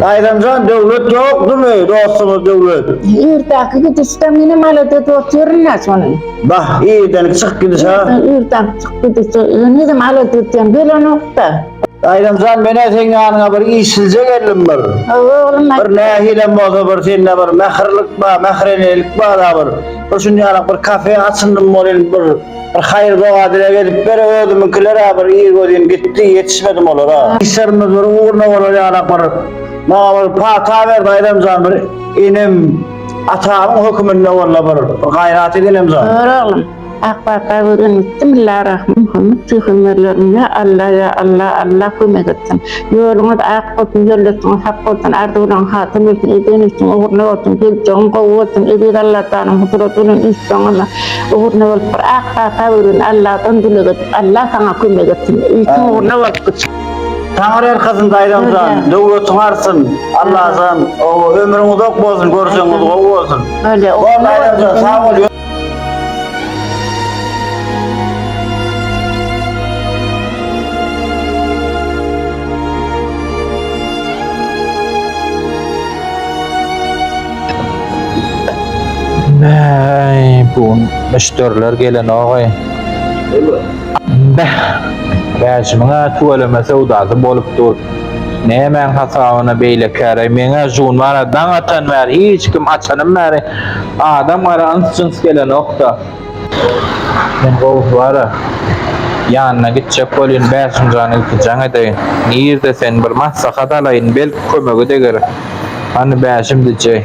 Baýramjan döwlet ýokdumy dostumyz döwlet. Irdenki gidişde meni malade dot ýörünä şony. Bah irdenki çykyp gidiş ha. Irdenki çykyp gidiş henizem alade diýen gelenokda. Baýramjan menä seň ýanyňa bir işsizje geldim bir. Hawa oglum aýt. Bir nähilem bolsa bir sende bir mähirlik bar mährenelik bar a bir. Bir şuny ýaly bir kafe açyndym bolýn bir. Bir haýyr doga dileg edip ber özümiňkilerä bir ir gözim gitdi ýetişmedim olara. Işlerimiz bir ugruna bolar ýalak bir maňa bir pata ber daýzamjan bir inim atamyň höküminde walla bir gaýrat et inemjan. Dur oglum ak pata göz öňütdi millarahm muhammet pygamberleriňe alla ýa alla alla kömek etsin ýoluňyz ak bolsun ýölletiňiz hak bolsun arzuwlaryň hasyl bolsun eden işiň ugruna bolsun geljegiň gowy bolsun eziz allatanyň huzurat bilen üns soňuna Ugruna bolup bir ak pata bürün Alladan dileg et Allah saňa kömek etsin itiň ugruna bolup git. Taňry erkasyn daýzamjan döwletiň artsyn Allajan oba ömrüň uzak bolsun görjegiňiz gowy bolsun Bor daýzamjan sag bol. Bäh, bu gün müşderiler gelenogay. Bäh, bäşimiň-ä tüweleme söwdasy bolup dur. Nämäň hasabyna beýle käraý? Meň-ä şu gün bar-a, daň atan bäri hiç kim, açanym bäri adam-gara yns-jyns gelenok-da. Men gowy bara, ýanyna gitjek bolýyn, Bäşimjana iki jaň edeýin. Nirde sen, bir maslahat alaýyn, belki kömege deger. Hany, Bäşim dije.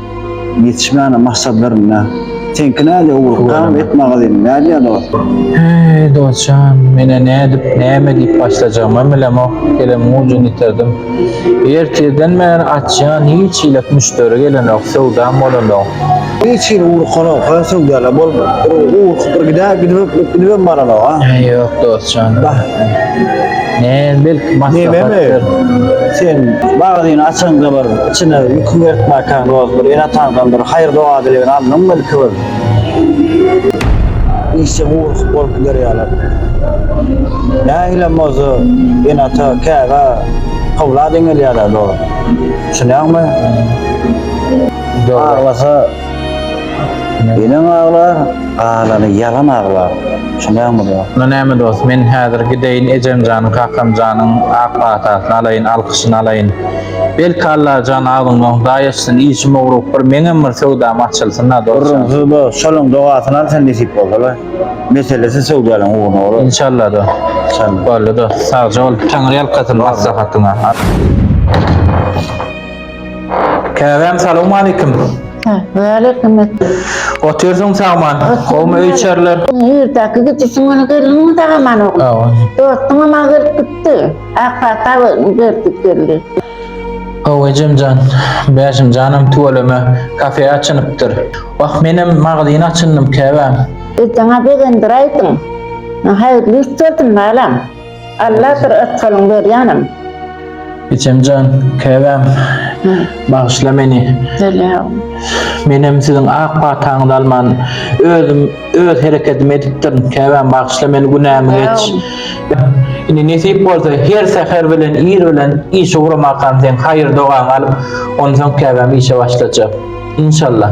Ýetişmäne maksadlarynda. Seňki nädýa ugur dowam et magazyn nädýa dost. Eý dostjan menä nädip näme diýip başlajagymam bilemok elem mujyn ýitirdim ertirden bäri açýan hiç hili müşderi gelenok söwdam bolanok. Hiç hili ugur konowka söwdalap bolmady bir ugur bir gidä gidibem baranok a. Eý ýok dostjan näme belki maslahatdyr. Nememi sen magazyny açaňda bir. Çyna ýüki berkmäkäň roz bir ene-ataňdan bir haýyr-doga dilegini aldyň belki bir. Işje burukyp bolup gider ýalar. Nähilem bolsa ene-ata käbä owlad eňelýär-ä dost. Düşünýäňmi? Aglasa Eneň aglar, galany ýalan aglar. Düşünýäňmi do? Onda näme dos, men häzir gideýin ejemjanyň, kakamjanyň ak patasyny alaýyn, alkyşyny alaýyn. Belki Allajan agzyňdan hudaý açsyn, işim ugrup bir meňem bir söwdam açylsyn-a dos. Gürrüňsiz do, şolaň dogasyny al sen nesip bolsa-la. Meselesi söwdäniň ugruna bolar. Inşallah do. Inşallah. Boldy dos, sagja bol. Taňryýalkasyn maslahatyňa. Käbäm salawmaleýkim. Hä, waleýkim et. Otyrsyň sagman, gowmy öý içerler? Ýurdaki gijisiň güni geldiňmi sagaman oglum? Hawa. Dostuňam maňa gelip gitdi. Ak pata berdik geldi. Hawa ejemjan, Bäşimjanam tüweleme kafe açynypdyr. Wah menem magazyn açyndym käbäm. Ejeňä begendiräýdiň. Haýyrly iş gördüm balam. Alladyr ysgalyň ber janym. Biçemjan käbäm bagyşla meni. Selewm. Menem siziň ak pataňyzy alman özüm öz hereketimi edipdirin käbäm bagyşla meni günämi geç. Indi nesip bolsa her säher bilen ir bilen işe ugramakam seň haýyr dogaňy alyp onsoň käbäm işe başlajak. Inşallah.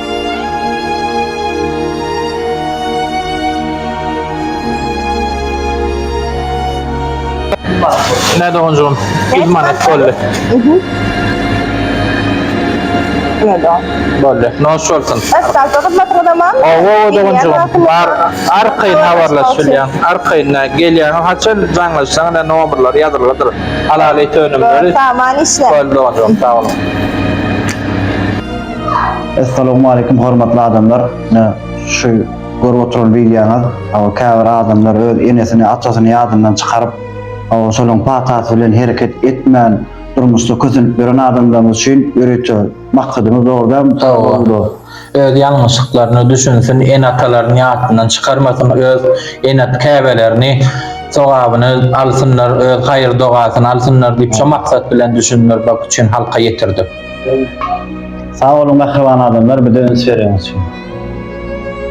Näde onjum? Idman et boldy. Näde? Boldy. Noş bolsun. Esasy hyzmatyňyz aman. Owo dogunjum. Bar arkaýyn habarlaş bilýän. Arkaýyn gelýän haçan jaňlaşsaň da nomerler ýazylgydyr. Halaly tönümleri. Saman işle. Boldy dogunjum. Sag boluň. Essalamu aleýkum hormatly adamlar. Ne şu görüp oturan wideoňyz, aw käbir adamlar öz enesini, atasyny ýadyndan çykaryp, aw şolaryň patasy bilen hereket etmän durmuşda kösenip ýören adamlarymyz üçin ýörite maksadymyz boldy. Mysal boldy. Öz ýalňyşlyklaryna düşünsin, ene-atalaryny ýatyndan çykarmasyn, öz ene-at käbelerini sogabyny alsynlar, öz haýyr-dogasyny alsynlar diýip, şo maksat bilen düşündirmek üçin halka ýetirdik. Sag boluň mähriban adamlar bize üns bereňiz üçin.